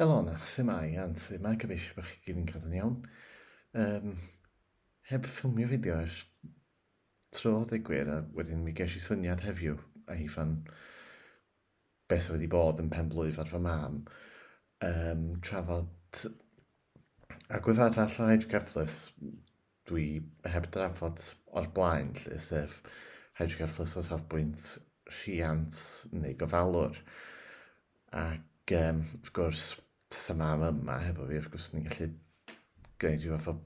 Elona, su mae Ann? Su mae? Gobeithio bod chi gyd yn cadw'n iawn. Um, heb ffilmio fideo ers tro deg gwir, a wedyn mi ges i syniad heddiw a hi fan beth wedi bod yn pen blwyf ar fy mam, um, trafod agwedd arall o Edge Garthless, dwi heb drafod o'r blaen 'lly, sef hydrocephalus o safbwynt rhiant neu gofalwr. Ac um, wrth gwrs, tasa mam yma hefo fi, wrth gwrs, ni'n gallu gwneud rhyw fath o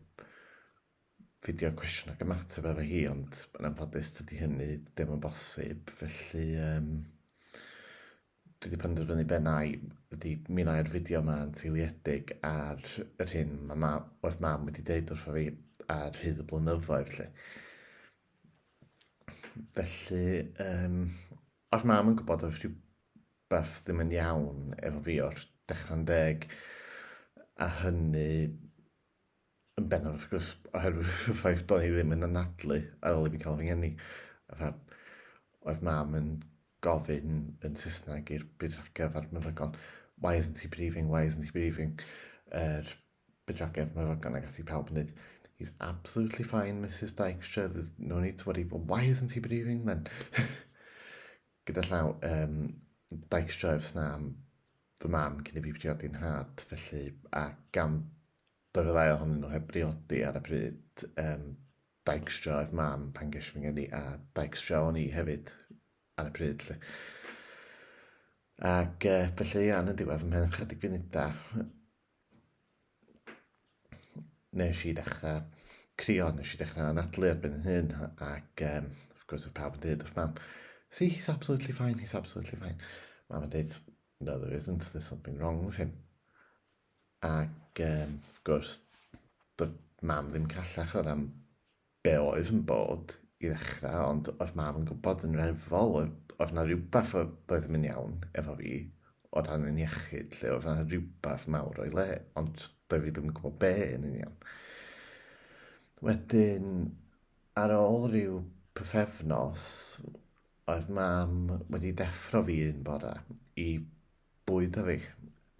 fideo cwestiwn ac ymateb efo hi, ond yn anffodus dydy hynny ddim yn bosib, felly um, dwi 'di penderfynu be wna i ydy mi wna i'r fideo 'ma yn seiliedig ar yr hyn ma' ma' oedd mam wedi deud wrtho fi ar hyd y blynyddoedd 'lly. Felly yym oedd mam yn gwybod oedd rhywbeth ddim yn iawn efo fi o'r dechra'n deg a hynny yn bennaf wrth gwrs oherwydd y ffaith do'n i ddim yn anadlu ar ôl i mi cael fy ngeni. Fatha, oedd mam yn gofyn yn Saesneg i'r bydwragedd a'r meddygon, why isn't he breathing, why isn't he breathing? Yr er, bydwragedd, meddygon ac ati pawb yn dweud, he's absolutely fine, Mrs Dykstra, there's no need to worry, but why isn't he breathing then? Gyda llaw, um, Dykstra efs na am fy mam cyn i fi briodi nhad, felly, a gan bod y ddau ohonyn nhw heb briodi ar y pryd, um, daigstrio oedd mam pan ges fy ngeni, a daigstrio o'n i hefyd ar y pryd, lle. Ac uh, felly, ia, yn y diwedd, ymhen chydig funudau, nes i ddechrau crio, nes i ddechrau anadlu erbyn yn hyn, ac um, of course, oedd pawb yn dweud wrth mam, see, he's absolutely fine, he's absolutely fine. Mam yn dweud, no, there isn't, there's something wrong with him. Ac, um, of course, doedd mam ddim callach o'r am Be oedd yn bod i ddechrau ond oedd mam yn gwybod yn reddfol oedd 'na rywbeth doedd ddim yn iawn efo fi o ran yn iechyd 'lly, oedd 'na rywbeth mawr o'i le ond doedd fi ddim yn gwybod be yn union. Wedyn ar ôl rhyw pythefnos oedd mam wedi deffro fi un bore i bwyd a fi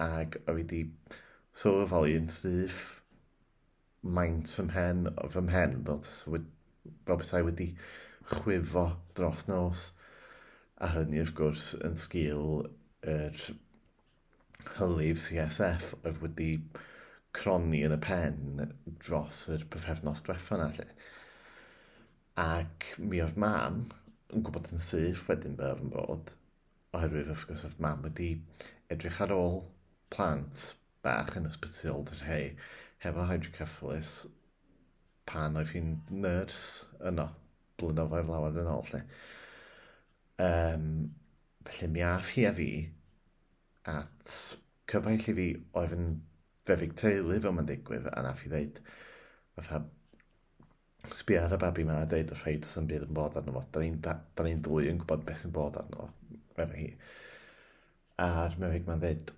ac oedd fi wedi sylweddoli yn syth maint fy mhen, fy mhen, fel, fel bethau wedi chwifo dros nos. A hynny, wrth gwrs, yn sgil yr hylif CSF oedd wedi cronni yn y pen dros yr pyfefnos diwetha yna, lle. Ac mi oedd mam yn gwybod yn syth wedyn be oedd yn bod, oherwydd, wrth gwrs, oedd mam wedi edrych ar ôl plant bach yn ysbyty old yr rhei hefo hydrocephalus pan oedd hi'n nyrs yno, blynyddoedd lawer yn ôl, lle. Um, felly mi af hi a fi at cyfaill i fi oedd yn fefig teulu fel mae'n digwydd, a naf i ddeud, fatha, sbio ar y babi yma a dweud wrth rhaid os yn byd yn bod arno fo. Da ni'n da, da ni dwy yn gwybod beth sy'n bod arno fo, efo hi. A'r mefig mae'n dweud,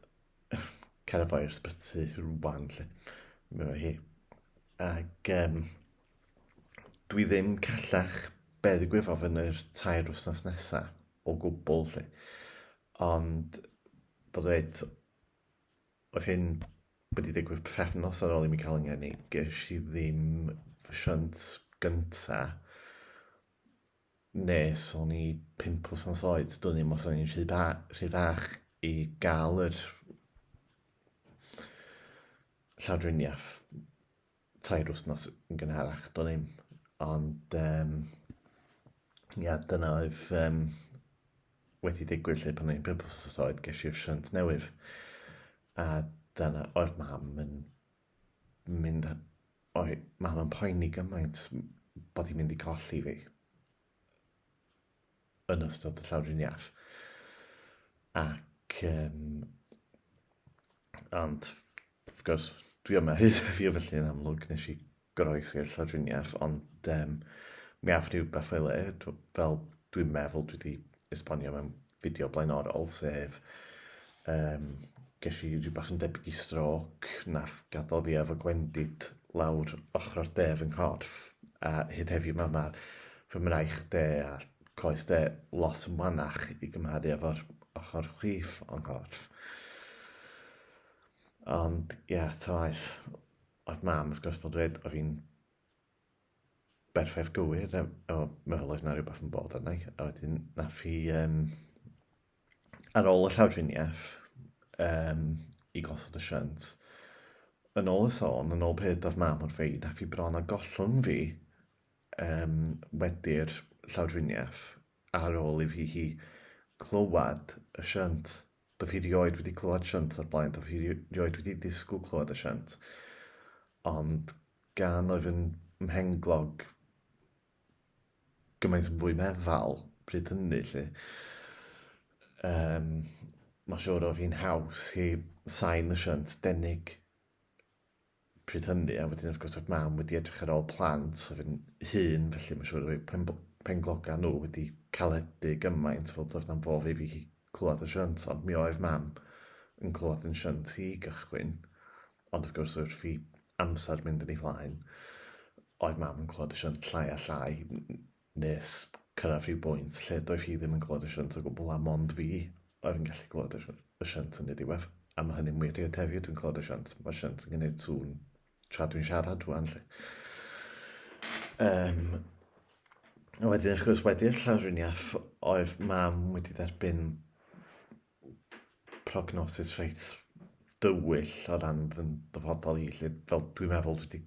cael y boi o'r sbyty rwan, lle. Meddwl hi. Ac um, dwi ddim callach be ddigwyddodd yn yr tair wythnos nesaf o gwbl, lle. Ond, bod dweud, oedd hyn wedi digwydd pethefnos ar ôl i mi cael yngen i, ges i ddim fy siant gynta nes o'n i pump wsnos oed, dwn i'm os o'n i'n rhy, ba, rhy fach i gael yr llawdriniaeth tair wsnos yn gynharach, dwn i'm. Ond, um, ia, dyna oedd um, wedi digwydd lle pan o'n i'n pump wsnos oed, ges i'r siant newydd. A dyna oedd mam yn mynd O, mae hwnna'n poeni gymaint bod hi'n mynd i golli fi yn ystod y llawdriniaeth. Ac, um, ond, wrth gwrs, dwi yma hyd a fi o felly yn amlwg nes i groes i'r llawdriniaeth, ond um, mi af rhywbeth o'i le, fel dwi'n meddwl dwi wedi esbonio mewn fideo blaenorol, sef um, ges i rhywbeth yn debyg i stroc, nath gadael fi efo gwendid lawr ochr o'r de fy nghorff, a hyd heddiw mae ma fy mraich de a coes de lot yn wanach i gymharu efo'r ochr chwith o'n nghorff. Ond, ie, yeah, tawaeth, oedd mam, wrth gwrs, fel dweud, oedd fi'n Berffaith gywir, o, meddwl oedd yna rhywbeth yn bod arna i, a wedyn nath hi, um, ar ôl y llawdriniaeth, um, i gosod y shunt, yn ôl y sôn, yn ôl peth oedd mam wrth fi, nath hi bron a gollwng fi um, wedi'r llawdriniaeth ar ôl i fi hi clywed y shunt. Dw i rioed wedi clywed shunt o'r blaen, dw i rioed wedi disgwyl clywed y shunt. Ond gan oedd yn mhenglog gymaint yn fwy meddal pryd hynny, lle. Um, mae siwr oedd hi'n haws i sain y shunt denig pryd hynny, a wedyn wrth gwrs oedd mam wedi edrych ar ôl plant, a fi'n hun, felly mae'n siŵr oedd pen, penglogau nhw wedi caledu gymaint, fel doedd na'm fof i fi hi clywed y shunt, ond mi oedd mam yn clywed yn shunt hi gychwyn, ond wrth gwrs wrth fi amser mynd yn ei flaen, oedd mam yn clywed y shunt llai a llai, Nes cyrraedd rhyw bwynt lle doedd hi ddim yn clywed y siant o gwbl a mond fi oedd yn gallu clywed y siant yn ei ddiwedd. A mae hynny'n wir hyd heddiw, dwi'n clywed y siant. Mae'r siant yn gwneud sŵn tra dwi'n siarad rwan 'lly. Um, a wedyn wrth gwrs wedi'r llawdriniaeth oedd mam wedi derbyn prognosis reit dywyll o ran fy ddyfodol i, lle fel dwi'n meddwl dwi wedi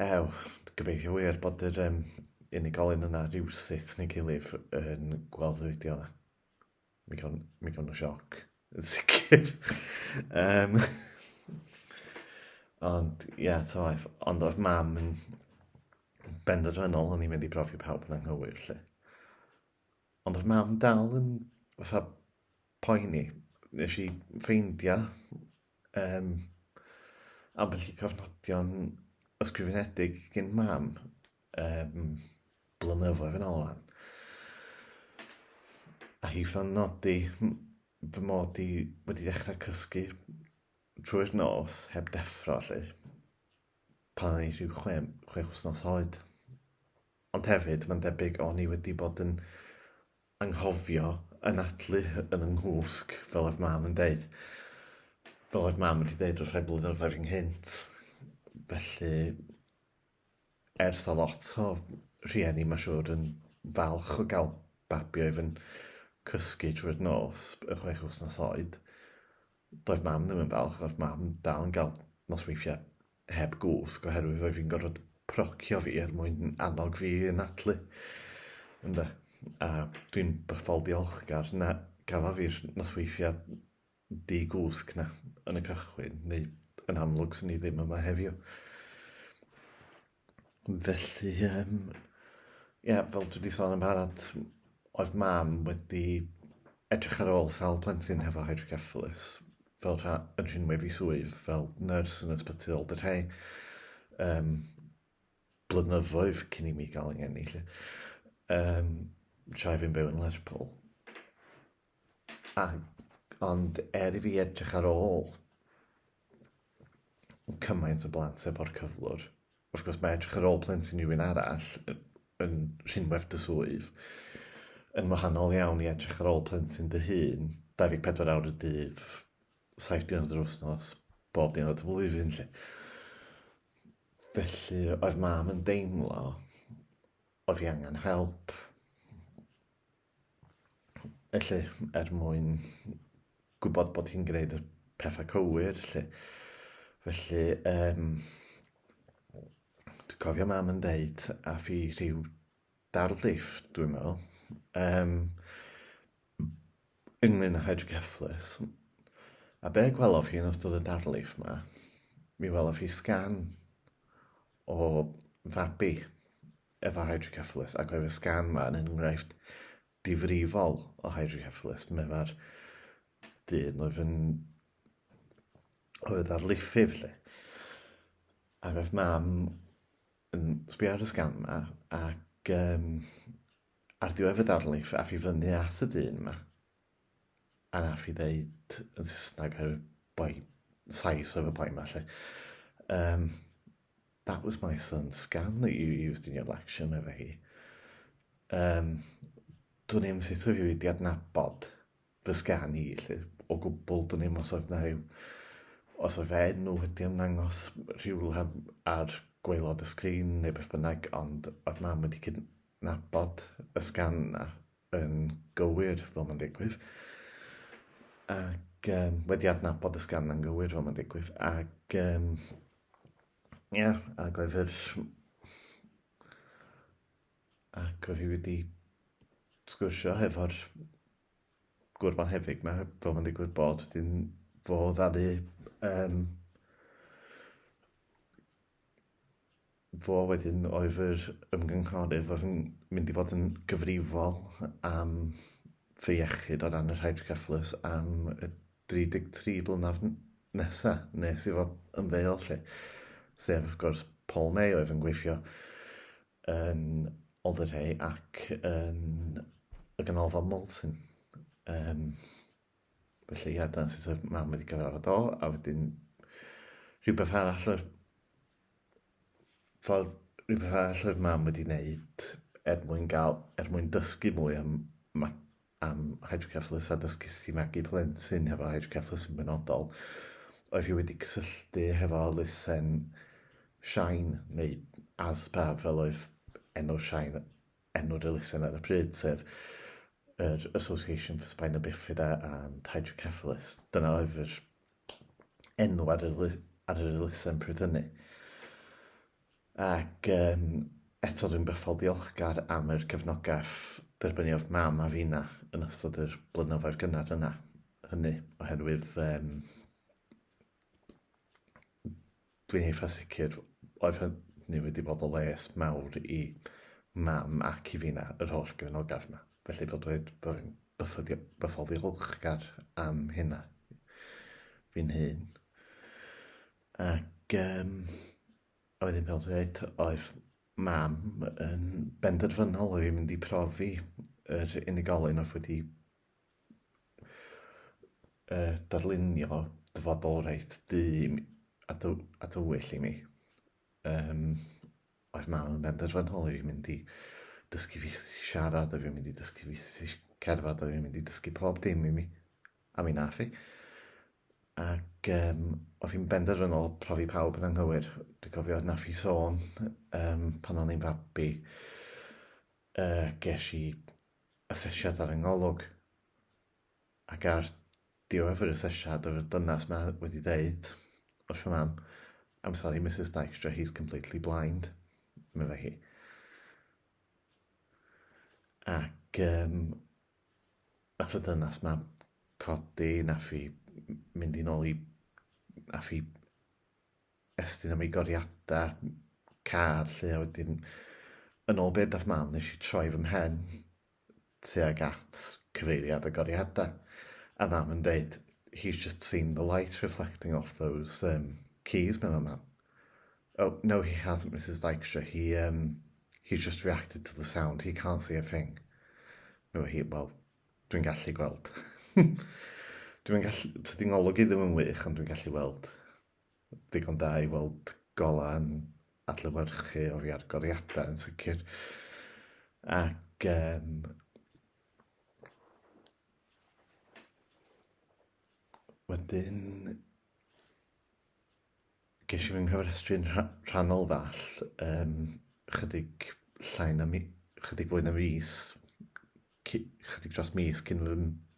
Ew, gobeithio wir bod yr um, unigolyn yna rhywsut neu gilydd yn gweld y fideo yna. Mi gawn, mi gawn o sioc, yn sicr. um, ond, ie, yeah, ta waith. Ond oedd mam yn benderfynol o'n i'n mynd i brofi pawb yn anghywir, lle. Ond oedd mam dal yn fatha poeni. Nes i ffeindio um, ambell i cofnodion ysgrifenedig gen mam um, blynyddoedd yn ôl lan. A hi fan nodi fy mod i wedi dechrau cysgu trwy'r nos heb deffro lle pan o'n i rhyw chwe, chwe chwsnos oed. Ond hefyd, mae'n debyg o'n i wedi bod yn anghofio yn atlu yn y nghwsg, fel oedd mam yn deud. Fel oedd mam wedi deud wrth rhai blynyddoedd ynghynt. Felly, ers a lot o rhieni, mae siwr, yn falch o gael babi oedd yn cysgu trwy'r nos, y chwech wythnos oed. Doedd mam ddim yn falch, oedd mam dal yn gael nosweithiau heb gwsg oherwydd oedd fi'n gorfod procio fi er mwyn annog fi yn atlu. Ynde? A dwi'n bythol diolchgar na gafa fi'r nosweithiau di gwsg na yn y cychwyn, neu yn amlwg sy'n ni ddim yma heddiw. Felly, um, ie, yeah, fel dwi wedi sôn yn barod, oedd mam wedi edrych ar ôl sawl plentyn hefo hydrocephalus fel rha, yn rhinwedd i swydd fel nyrs yn ysbyty ol dyrhau um, blynyddoedd cyn i mi gael yng ngeni. Lle. Um, tra fi'n byw yn Lerpwl. A, ond er i fi edrych ar ôl cymaint o blant efo'r cyflwr, Wrth gwrs, mae edrych ar ôl plentyn i rywun arall yn rhinwedd dy swydd yn wahanol iawn i edrych ar ôl plentyn dy hun, 24 awr y dydd, 7 diwrnod yr wythnos, bob diwrnod y flwyddyn, lle. Felly, oedd mam yn deimlo oedd hi angen help. Felly, er mwyn gwybod bod hi'n gwneud y pethau cywir, lle. Felly, um, dwi'n cofio mam yn deud, a fi rhyw darlif, dwi'n meddwl, um, ynglyn â hydrocefflus. A be gwelof hi yn ystod y darlif yma, mi welof hi sgan o fabi efo hydrocephalus ac mae'r sgan yma yn enghraifft difrifol o hydrocephalus. Mae mae'r dyn oedd yn oedd ar liffydd lle. Ac oedd mam yn sbio ar y sgan yma ac um, ar diwedd y darlif a fi fyny at y dyn yma anaf i ddeud yn Saesneg ar y boi, Sais ar y boi yma lle. Um, that was my son's scan that you used in your lecture, meddwl hi. Um, dwi'n i'm sut oedd wedi adnabod fy sgan i, lle, o gwbl, dwi'n i'm os oedd na rhyw, os oedd fe enw wedi ymddangos rhyw ar gweilod y sgrin neu beth bynnag, ond oedd mam wedi cydnabod y sgan na. yn gywir fel mae'n digwydd, ac um, wedi adnabod y sgan yn gywir fel mae'n digwydd, ac um, yeah, ac oedd yr... ac oedd hi wedi sgwrsio hefo'r gwrban hefyd, mae fel mae'n digwydd bod, dyn fo ddaru um, fo wedyn oedd yr ymgynghorydd oedd yn mynd i fod yn gyfrifol am fy iechyd o ran yr hydrocephalus am y 33 blynaf nesa nes i fo ymddeol lle. Sef, wrth gwrs, Paul May oedd yn gweithio yn Alderhay ac yn y ganolfan Molton. Um, felly, ia, dyna sut oedd mam wedi cyfarfod o, a wedyn rhywbeth arall oedd fel rhywbeth arall oedd mam wedi wneud er mwyn gael, er mwyn dysgu mwy am, am hydrocephalus a dysgu sut i magu plentyn hefo hydrocephalus yn benodol, oedd hi wedi cysylltu hefo lusen Shine, neu ASPA fel oedd enw'r Shine, enw'r elusen ar y pryd, sef yr Association for Spina Bifida and Hydrocephalus. Dyna oedd yr enw ar yr, ar yr elusen pryd hynny. Ac um, eto dwi'n bythol diolchgar am yr cefnogaeth derbyniodd mam a fina yn ystod yr blynyddoedd gynnar yna. Hynny oherwydd um, Dwi'n eitha sicr oedd hynny wedi bod o les mawr i mam ac i finna, yr holl gefnogaf 'ma. Felly bod dweud bod fi'n byffyddi- bythol ddiolchgar am hynna fi'n hun. Ac um, a wedyn fel dweud, oedd mam yn benderfynol oedd hi'n mynd i profi yr unigolyn oedd wedi yy darlunio dyfodol reit du a, dy a dywyll i mi. Yym, oedd mam yn benderfynol i fi mynd i dysgu fi siarad, oedd fi'n mynd i dysgu fi cerdded, oedd fi'n mynd i dysgu pob dim i mi. A mi nath i. Ac um, oedd hi'n benderfynol profi pawb yn anghywir. Dwi'n cofio na i sôn um, pan o'n i'n fabi, uh, ges i asesiad ar y ngolwg ac ar ddiwedd yr asesiad yr dynas yma wedi dweud wrth y mam I'm sorry Mrs Dykstra he's completely blind meddai hi ac um, nath y dynas yma codi nath i mynd i'n ôl i nath i estyn am ei goriadau car 'lly a wedyn yn ôl be' dath mam nes i troi fy mhen tuag at cyfeiriad y goriadau a mam yn deud he's just seen the light reflecting off those um, keys meddwl mam. Oh no he hasn't Mrs Dykstra he um, he's just reacted to the sound he can't see a thing. Meddwl hi wel dwi'n gallu gweld. dwi'n gallu, tydi ngolwg i ddim yn wych ond dwi'n gallu weld ddigon da i weld golau yn adlewyrchu o'r agoriadau yn sicr. Ac um, wedyn ges i fy nghyfrestru'n rhannol ddall um, chydig llai na mi, chydig fwy na mis, chydig dros mis cyn fy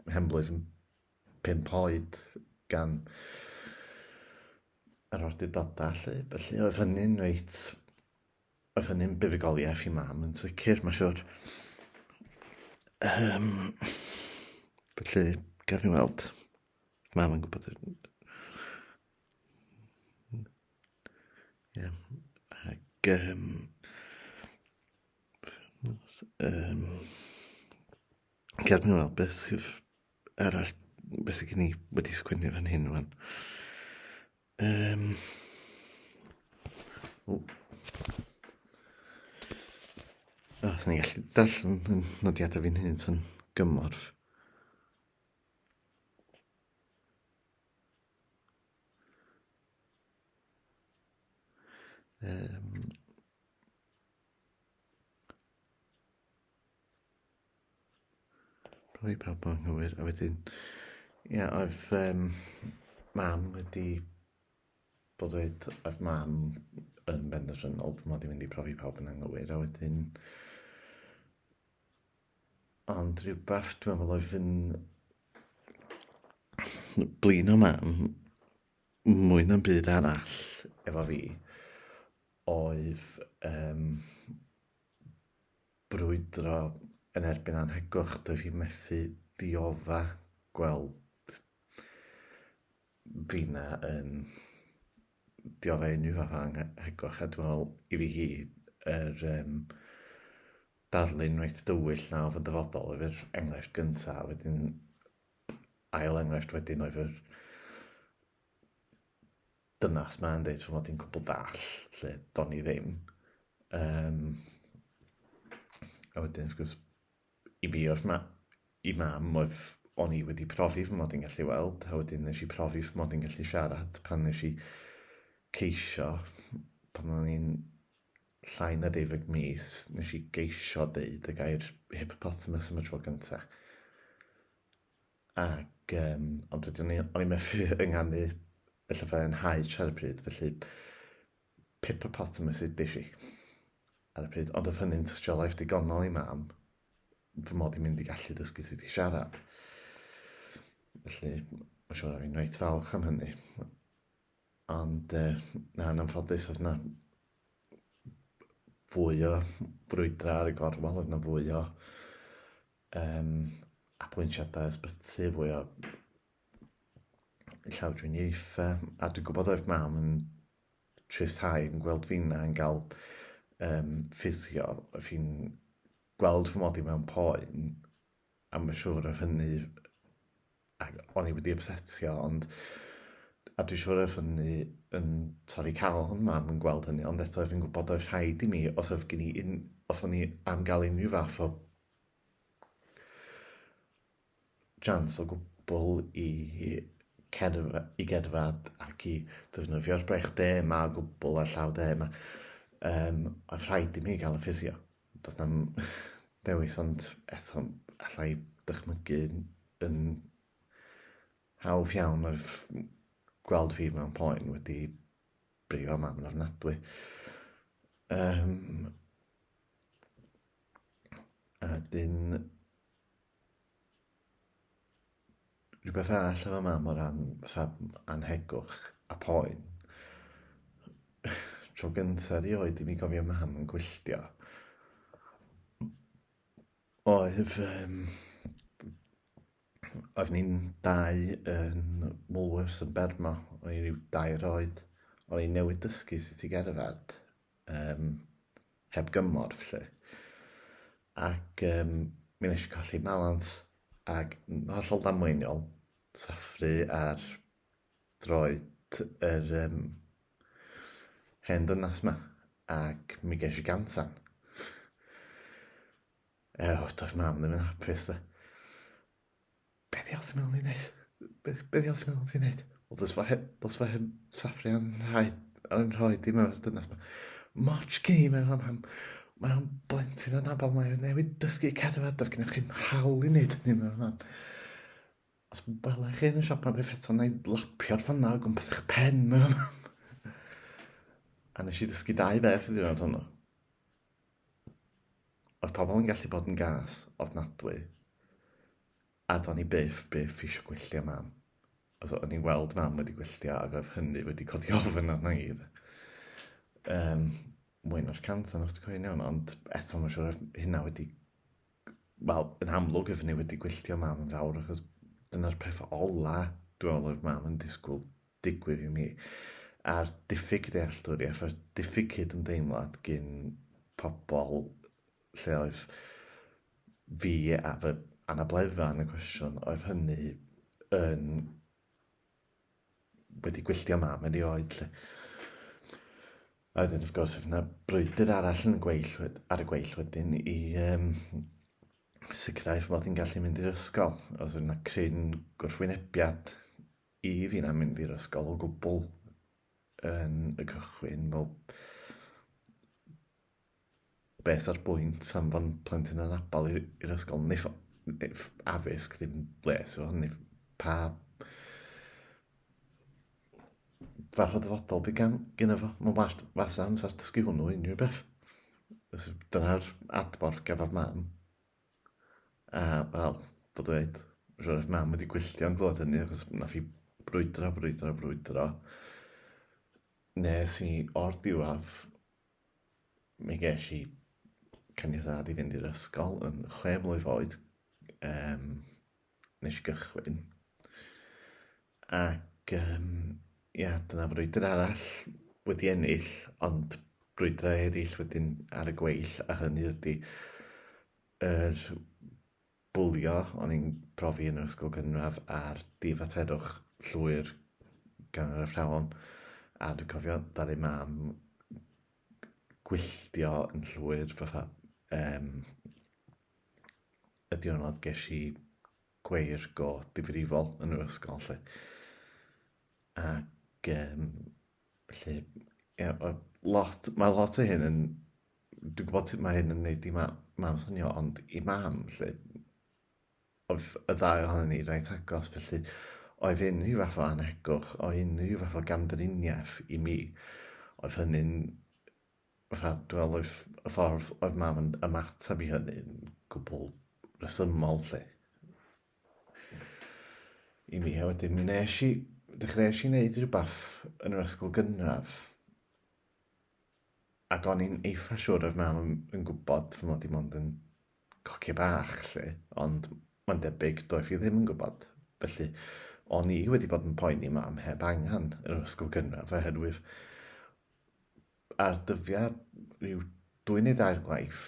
mhenblwydd pump oed gan yr awdurdodau lle. Felly oedd hynny'n reit, oedd hynny'n buddugoliaeth i mam yn sicr, mae'n siwr. Um, felly, gaf i weld, mam yn gwybod Ie. Ac yym yym gad mi weld beth sydd arall beth sydd gen i wedi sgwennu fan hyn fan. Um, o. O, sy'n ni'n gallu darllen yn nodiadau fi'n hyn sy'n gymorth. Um, Rhoi pawb yn anghywir a wedyn ie oedd yym mam wedi bod dweud oedd mam yn benderfynol bod mod i'n mynd i profi pawb yn anghywir a wedyn ond rhywbeth dwi'n meddwl oedd yn blin o mam mwy na'm byd arall efo fi oedd yym brwydro yn erbyn anhegwch, dw i methu diodda gweld Rina yn diodda unrhyw fath o anhegwch a dwi'n meddwl i fi hi yr um, darlun reit dywyll na oedd yn dyfodol oedd yr enghraifft gyntaf a wedyn ail enghraifft wedyn oedd yr dynas ma yn deud fy mod i'n cwbl dall, lle do'n i ddim. Um, a wedyn, wrth gwrs, i mi oedd ma, i mam oedd o'n i wedi profi fy mod i'n gallu weld, a wedyn nes i profi fy mod i'n gallu siarad pan nes i ceisio, pan o'n i'n llai na deifeg mis, nes i geisio deud y gair hippopotamus am y tro gyntaf. Ac yym, ond wedyn o'n i, o'n i methu ynganu y llyfrau yn Haich ar y pryd, felly Pippopotamus ydish i ar y pryd. Ond oedd hynny'n tystiolaeth digonol i mam fy mod i'n mynd i gallu dysgu sut i siarad. Felly, mae'n siŵr o'n i'n reit falch am hynny. Ond, e, na, yn anffodus, oedd yna fwy o brwydrau ar y gorwel, oedd yna fwy o um, apwyntiadau ysbyty, fwy o llawdriniaethau, a dwi'n gwybod oedd mam yn trisau yn gweld fi'n yn cael um, ffisio, fi'n gweld fy mod i mewn poen, a mae'n siŵr oedd hynny, ac o'n i wedi obsetio, ond a dwi'n siŵr oedd hynny yn torri cael hwn mam yn gweld hynny, ond eto oedd yn gwybod oedd rhaid i mi, os oedd gen i un, os o'n i am gael unrhyw fath o jans o gwbl i cerdded, i gerdded ac i defnyddio'r brech de yma o gwbl a'r llaw de yma. Um, oedd rhaid i mi gael y ffisio. Doedd na'm dewis ond eto allai dychmygu yn hawdd iawn oedd gweld fi mewn poen wedi brifo mam yn ofnadwy. Um, A dyn... Rhywbeth arall efo mam o ran fatha anhegwch a poen. Tro gynta erioed i mi gofio mam yn gwylltio oedd yym oedd ni'n dau yn Woolworths yn Bermo, o'n i ryw dair oed, o'n i newydd dysgu sut i gerdded, um, heb gymorth, lle. Ac um, mi nes i colli balans ac hollol ddamweiniol, saffru ar droed yr um, hen dynas yma, ac mi ges i gansan. Ew, doedd mam ddim yn hapus, da. Be ddiawl ti'n meddwl i wneud? Be, be ddiawl ti'n meddwl ti'n wneud? Wel, dos fe, dos fe hyn saffri yn rhoi, yn rhoi dim o'r dynas ma. Moch gen i mewn hon. Mae o'n blentyn yn abal, mae o'n newid dysgu cerdded, does gennych chi'n hawl i wneud hynny mewn hon. Os welai chi yn y siop yma beth eto, na i lapio'r ffanna o gwmpas eich pen mewn hon. A nes i ddysgu dau beth y diwrnod hwnnw. Oedd pobl yn gallu bod yn gas ofnadwy, a do'n i byth, byth eisiau gwylltio mam. Os o'n i'n weld mam wedi gwylltio ac oedd hynny wedi codi ofn arna i. Um, mwy na'r cant o'n os dwi'n cofio'n iawn, ond eto mae'n siŵr hynna wedi Wel, yn amlwg oeddwn i wedi gwylltio mam yn fawr achos dyna'r peth ola dwi'n meddwl oedd mam yn disgwyl digwydd i mi. A'r diffyg dealltwriaeth a'r diffyg cydymdeimlad gyn pobl lle oedd fi a fy anabledda yn y cwestiwn oedd hynny yn wedi gwylltio mam yn ei oed, lle. A wedyn, wrth gwrs, oedd yna brwydr arall yn y gweill, ar y gweill wedyn i um, sicrhau fy mod i'n gallu mynd i'r ysgol. Oedd yna cryn gwrthwynebiad i fi na mynd i'r ysgol o gwbl yn y cychwyn, fel Beth yw'r bwynt am fod plentyn yn abal i'r ysgol? Neu addysg, ddim les o hynny. Pa... Fath o dyfodol bydd gan gyda fo? Mae'n wallt fas amser dysgu hwnnw unrhyw beth. Dyna'r adborth gafodd mam. A, wel, bod dweud, rwy'n eich mam wedi gwylltio'n glod hynny, achos na fi brwydro, brwydro, brwydro. Nes i o'r diwedd mi ges i caniatad i fynd i'r ysgol yn chwe mlwydd oed, um, nes i gychwyn. Ac, um, ia, dyna frwydr arall wedi ennill, ond brwydrau eraill wedyn ar y gweill, a hynny ydy yr bwlio o'n i'n profi yn yr ysgol gynradd a'r difaterwch llwyr gan yr athrawon a dwi'n cofio dad ei mam gwylltio yn llwyr fatha um, y diwrnod ges i gweir go difrifol yn yr ysgol lle. Ac um, lle, yeah, lot, mae lot o hyn yn Dwi'n gwybod sut mae hyn yn neud i ma- mam swnio, ond i mam, lle, oedd y ddau ohono ni reit agos, felly oedd unrhyw fath o anhegwch, o unrhyw fath o gamdriniaeth i mi, oedd hynny'n fatha, dwi'n meddwl oedd y ffordd oedd mam yn ymateb i hynny'n gwbl resymol, lle. I mi, a wedyn mi nes i, dechreuais i wneud rhywbeth yn yr ysgol gynradd, Ac o'n i'n eitha siwr oedd mam yn, yn gwybod fy mod i mond yn coci bach, lle, ond mae'n debyg doedd hi ddim yn gwybod. Felly, o'n i wedi bod yn poeni mam heb angen yn yr ysgol gynradd oherwydd ar dyddiau rhyw dwy neu dair gwaith,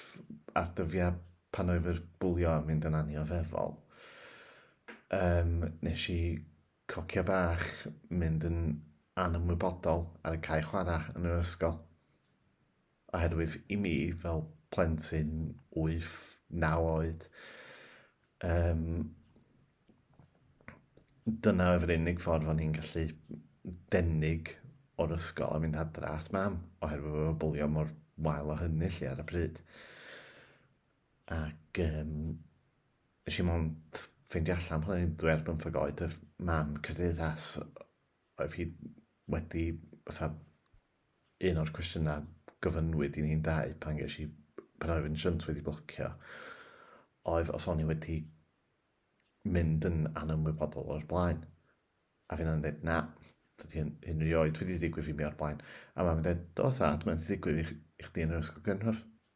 ar dyddiau pan oedd yr bwlio yn mynd yn anioddefol, um, nes i Coccia bach mynd yn anymwybodol ar y cae chwarae yn yr ysgol. Oherwydd i mi, fel plentyn 8, 9 oed, um, dyna oedd yr unig ffordd o'n i'n gallu denig o'r ysgol a mynd adra at mam, oherwydd oedd y bwlio mor wael o hynny lle ar y pryd. Ac um, Nes i mond ffeindio allan pan o'n i'n dwy ar bymthag oed, oedd mam Cymdeithas, oedd hi wedi, fatha, un o'r cwestiynau gyfynwyd i ni'n dau pan ges i, pan oedd yn shunt wedi blocio, oedd os o'n i wedi mynd yn anymwybodol o'r blaen. A fi'n dweud, na, dydy hyn, hyn rioed wedi digwydd i mi o'r blaen. A mae'n dweud, do, sad, mae'n ddigwydd i, i chdi yn yr ysgol gynradd.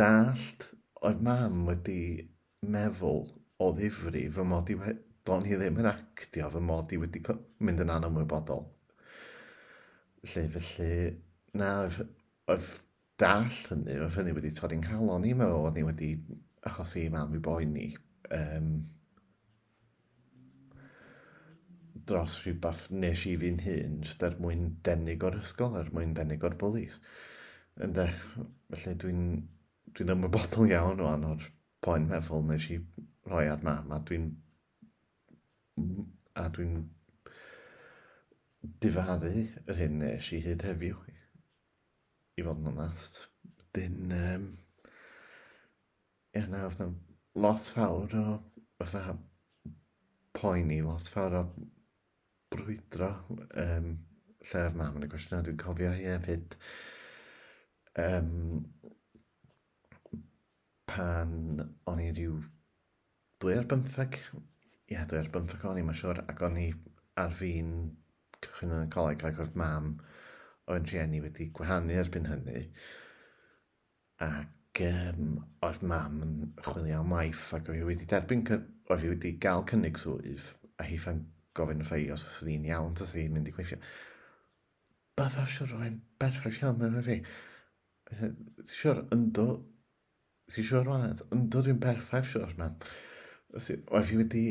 dallt oedd mam wedi meddwl o ddifri fy mod i wedi... do'n i ddim yn actio fy mod i wedi mynd yn anymwybodol. Felly, felly, na, oedd, oedd dall hynny, oedd hynny wedi torri'n nghalon i, mae oedd ni wedi achosi i mam i boeni. Um, dros rhywbeth nes i fi'n hun, jyst er mwyn denig o'r ysgol, er mwyn denig o'r bwlis. Ynde, felly dwi'n dwi ymwybodol iawn o ano'r poen meddwl nes i roi ar mam, a dwi'n a dwi'n difaru yr hyn nes i hyd heddiw, i fod yn onest. Dyn, um, Ie na oedd 'na lot fawr o fatha poeni, lot fawr o brwydro yym lle oedd mam yn y cwestiynau. Dwi'n cofio hi hefyd yym pan o'n i ryw dwy ar bymtheg, ie dwy ar bymtheg o'n i mae'n siŵr ac o'n i ar fin cychwyn yn y coleg ac oedd mam oedd yn rhieni wedi gwahanu erbyn hynny. ac um, oedd mam yn chwilio am waith ac oedd hi wedi derbyn, oedd hi wedi gael cynnig swydd a hi fan gofyn wrth ei os oedd hi'n iawn tas hi'n mynd i gweithio. Byddaf siwr oedd e'n berffaith iawn mewn fi. Ti'n siwr, ynddo, ti'n siwr o'n eto, ynddo dwi'n berffaith siwr mam. Oedd hi wedi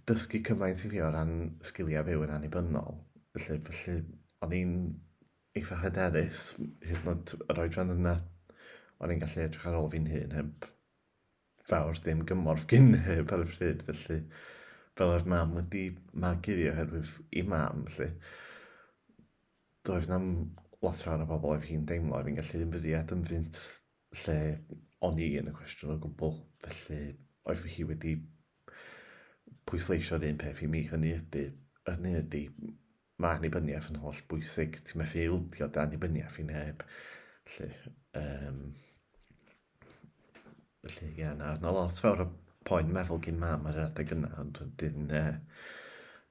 dysgu cymaint i fi o ran sgiliau byw yn annibynnol. Felly, felly o'n i'n eitha hyderus, hyd yn oed yr oedran yna, o'n i'n gallu edrych ar ôl fi'n hun heb fawr dim gymorth gyn neb ar y pryd, felly fel oedd mam wedi magu fi oherwydd i mam, felly doedd na'm lot fawr o bobl oedd hi'n deimlo oedd hi'n gallu ymddiad yn fynt lle o'n i yn y cwestiwn o gwbl, felly oedd fy hi wedi pwysleisio'r un peth i mi, hynny ydy, hynny ydy, Mae annibyniaeth yn holl bwysig, ti'n methu ildio dy annibyniaeth i neb. Felly, um, felly ie, na, na lot fawr o poen meddwl gyn mam ar yr adeg yna, ond wedyn, uh,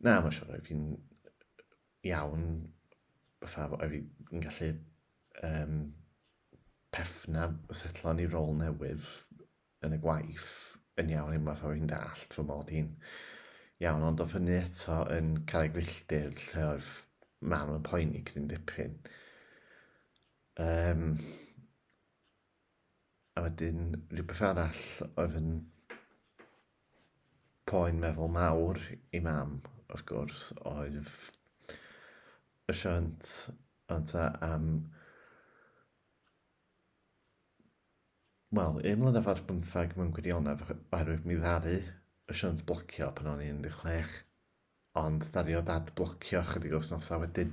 na, mae'n siŵr oedd fi'n iawn, fatha, oedd fi'n gallu um, pefna setlo ni rôl newydd, yn y gwaith yn iawn unwaith oedd hi'n dallt fy mod i'n iawn, ond oedd hynny eto yn cael ei gwylltir lle oedd mam yn poeni gydyn dipyn. Um, a wedyn rhywbeth arall oedd yn poen meddwl mawr i mam, wrth gwrs, oedd y siant anta am Wel, un mlynedd ar bymtheg mewn gwirionedd oherwydd mi ddaru y siwns blocio pan o'n i'n 16 ond ddaru o dad blocio chydig o wythnosau wedyn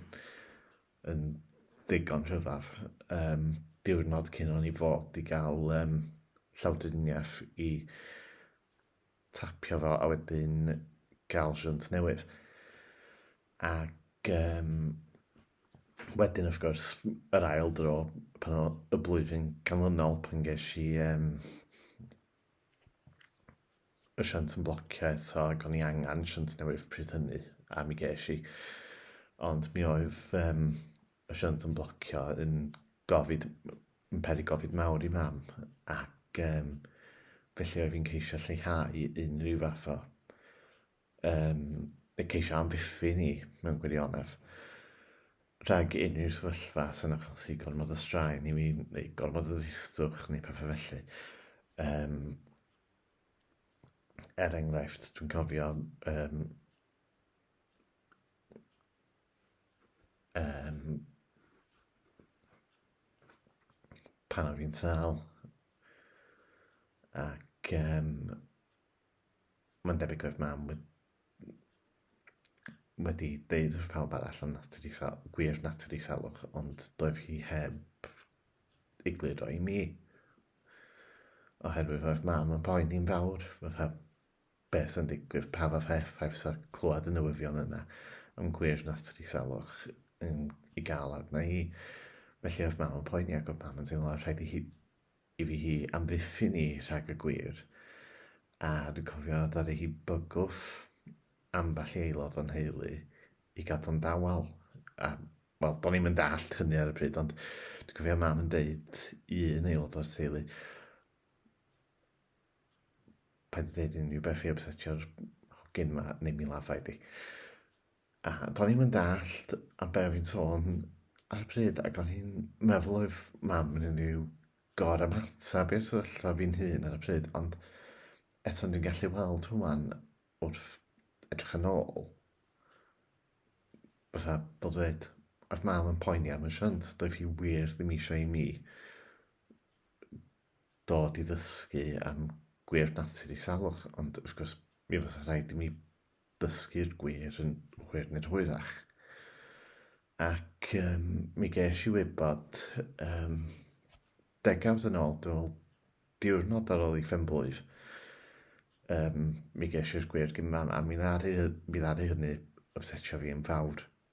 yn ddigon rhyfaf um, diwrnod cyn o'n i fod i gael um, llawdriniaeth i tapio fo a wedyn gael siwnt newydd. Ac um, wedyn, wrth gwrs, yr ail dro, pan o y blwyddyn canlynol, pan ges i um, y siant yn blocio eto, ac o'n i angen siant newydd pryd hynny, a mi ges i. Ond mi oedd um, Asiant yn blocio yn gofid, yn peri gofid mawr i mam ac um, felly oedd fi'n ceisio lleihau unrhyw fath o um, ceisio amddiffyn ni mewn gwirionedd rhag unrhyw sefyllfa sy'n achosi gormod o straen i mi neu gormod o ddristwch neu pethau felly. Um, er enghraifft, dwi'n cofio um, Um, pan o'n i'n tal. Ac um, mae'n debyg oedd mam wedi wedi deud wrth pawb arall am natur i sal, gwir natur i salwch, ond doedd hi heb egluro i mi. Oherwydd oedd mam yn poen i'n fawr, fatha, beth sy'n digwydd, pa fath o effaith sy'n clywed y newyddion yna yn gwir nath tri salwch yn ei gael arna i. Felly oedd mam yn poeni ac oedd mam yn teimlo rhaid i, hi, i fi hi amddiffyn i rhag y gwir. A dwi'n cofio ddaru hi bygwth ambell i aelod o'n heulu i gadw'n dawel. A, wel, do'n i'n mynd all hynny ar y pryd, ond dwi'n cofio mam yn deud i un aelod o'r teulu, paid â deud unrhyw beth i ypsetio'r hogyn yma, neu mi lafa i di. A do'n i'n mynd allt a be fi'n sôn ar y pryd, ac o'n i'n meddwl oedd mam yn unrhyw gor am hatab i'r sefyllfa fi'n hun ar y pryd, ond eto dwi'n gallu weld hwnna'n wrth edrych yn ôl. Fytha, bod dweud, oedd mam yn poeni am y shunt, doedd hi wir ddim eisiau i mi dod i ddysgu am gwir natur ei salwch, ond wrth gwrs mi fysa rhaid i mi dysgu'r gwir yn hwyr neu'n hwyrach. Ac um, mi ges i wybod um, degawd yn ôl, dwi'n diwrnod ar ôl i ffenblwydd, um, mi ges i'r gwir gyma'n a mi ddaru, mi ddaru hynny obsetio fi yn fawr.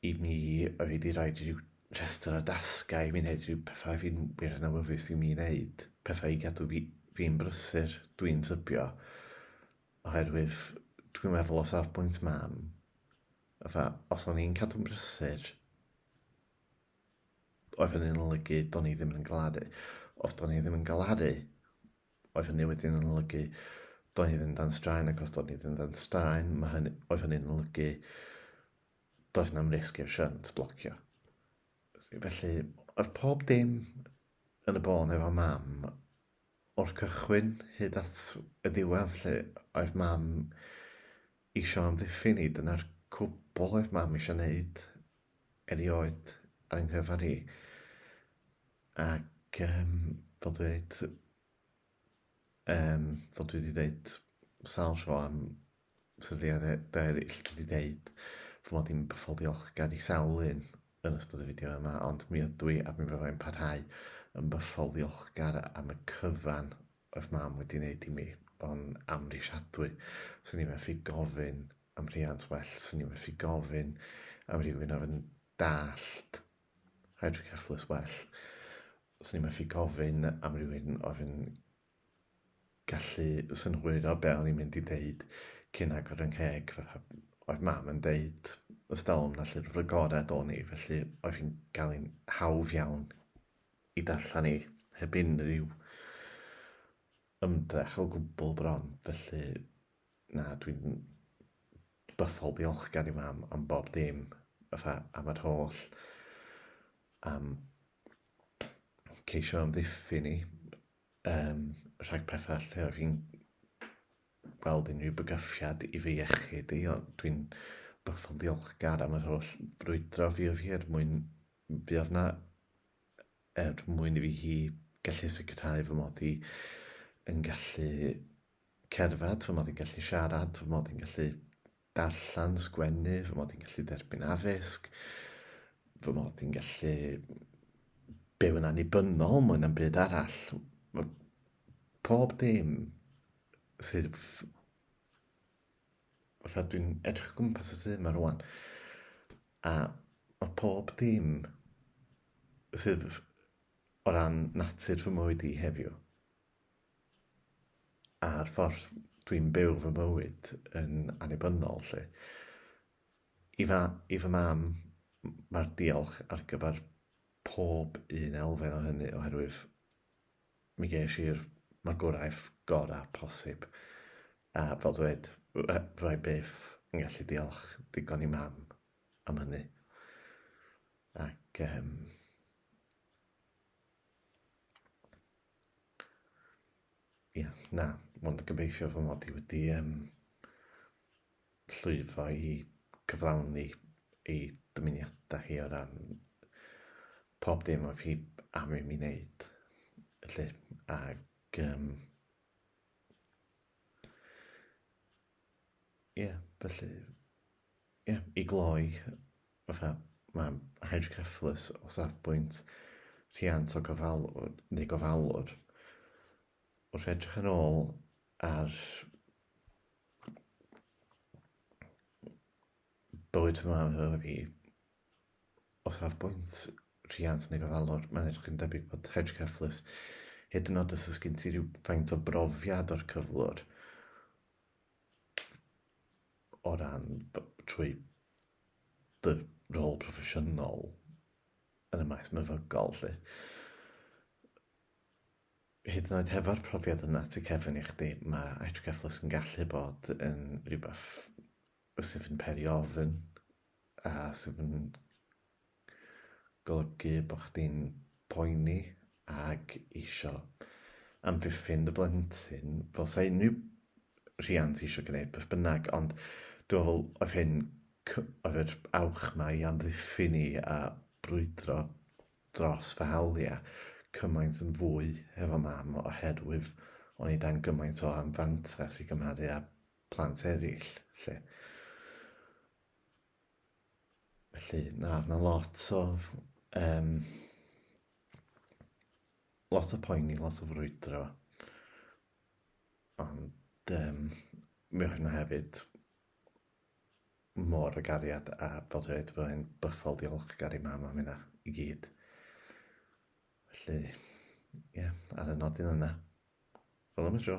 I mi, mae wedi rhaid i ryw rhestr o dasgau i mi wneud rhyw pethau fi'n wir yn awyddus i mi wneud, pethau i gadw fi, fi'n brysur, dwi'n tybio, oherwydd dwi'n meddwl o safbwynt mam, fatha, os o'n i'n cadw'n brysur, oedd hynny'n olygu do'n i ddim yn galaru. Os do'n i ddim yn galaru, oedd hynny wedyn yn olygu do'n i ddim dan straen, ac os do'n i ddim dan straen, mae hynny, oedd hynny'n olygu Does na'm risg i'r shunt blocio. Felly, oedd pob dim yn y bôn efo mam o'r cychwyn hyd at y diwedd lle oedd mam eisiau amddiffyn ni. Dyna'r cwbl oedd mam eisiau wneud erioed ar yng nghyfan hi. Ac um, fel dweud, um, fel dwi wedi dweud sawl tro am sefydliadau eraill, dwi wedi dweud fy mod i'n byffol diolchgar i sawl un yn ystod y fideo yma, ond mi ydw i a mi fyddai yn parhau yn byffol ddiolchgar am y cyfan oedd mam wedi wneud i mi, ond amrisiadwy. Swn i'n methu gofyn am rhiant well, swn i'n methu gofyn am rhywun oedd yn dallt Hydric a Fflws Well. Os ni'n methu gofyn am rywun oedd yn gallu synhwyro be o'n i'n mynd i ddeud cyn agor yng ngheg, fatha oedd mam yn deud y stalwm na llyfr fy gorau do ni, felly oedd hi'n cael hi'n hawdd iawn i darllen i heb unrhyw ymdrech o gwbl bron, felly Na, dwi'n bythol ddiolchgar i mam am bob dim, fatha am yr holl am ceisio amddiffyn ni, um, rhag pethau lle oedd hi'n gweld unrhyw bygythiad i fy iechyd i, ond dwi'n bythol ddiolchgar am yr holl frwydro fi oedd hi er mwyn fi oedd na er mwyn i fi hi gallu sicrhau fy mod i yn gallu cerdded, fy mod i'n gallu siarad, fy mod i'n gallu darllen, sgwennu, fy mod i'n gallu derbyn addysg, fy mod i'n gallu byw yn annibynnol mwy na'm byd arall. Mae pob dim sydd fatha dwi'n edrych gwmpas y tŷ yma rwan a mae pob dim sydd o ran natur fy mywyd i heddiw a'r ffordd dwi'n byw fy mywyd yn annibynnol 'lly. I fa- i fy mam mae'r diolch ar gyfer pob un elfen o hynny oherwydd mi ges i'r magwraeth gorau posib a fel dweud fy- fydda' i byth yn gallu diolch digon i mam am hynny ac yym Ie, yeah, na, mond yn gobeithio fy mod i wedi um, llwyddo i gyflawni ei dymuniadau hi o ran pob dim oedd hi am i mi wneud. Felly, ac... Um, ie, yeah, felly... Ie, yeah, i gloi, fatha, mae'n hydrocephalus o safbwynt rhiant o gofalwr, neu gofalwr. Wrth edrych yn ôl ar bywyd fy mam efo fi, o safbwynt rhiant neu gofalwr, mae'n edrych yn debyg bod hydrocephalus, hyd yn oed os oes gen ti rhyw faint o brofiad o'r cyflwr, o ran trwy dy rôl proffesiynol yn y maes meddygol 'lly. Hyd yn oed hefo'r profiad yna ti cefn i chdi mae IHGF Plus yn gallu bod yn rhywbeth sydd yn peri ofn a sydd yn golygu bod chdi'n poeni ac isio amddiffyn dy blentyn, fel sa unrhyw rhiant isio gwneud beth bynnag, ond dwi'n meddwl oedd hyn, oedd yr awch ma i amddiffyn ni a brwydro dros fy hawliau cymaint yn fwy hefo mam oherwydd o'n i dan gymaint o anfantais i gymharu â plant eraill, lle. Felly, na, mae lot o... Um, lot o poeni, lot o frwydro. Ond um, mi oedd hynna hefyd mor y gariad a bod dweud bod e'n bythol diolchgar i mam am hynna i gyd. Felly, ie, yeah, ar y nodyn yna. Fel yma tro.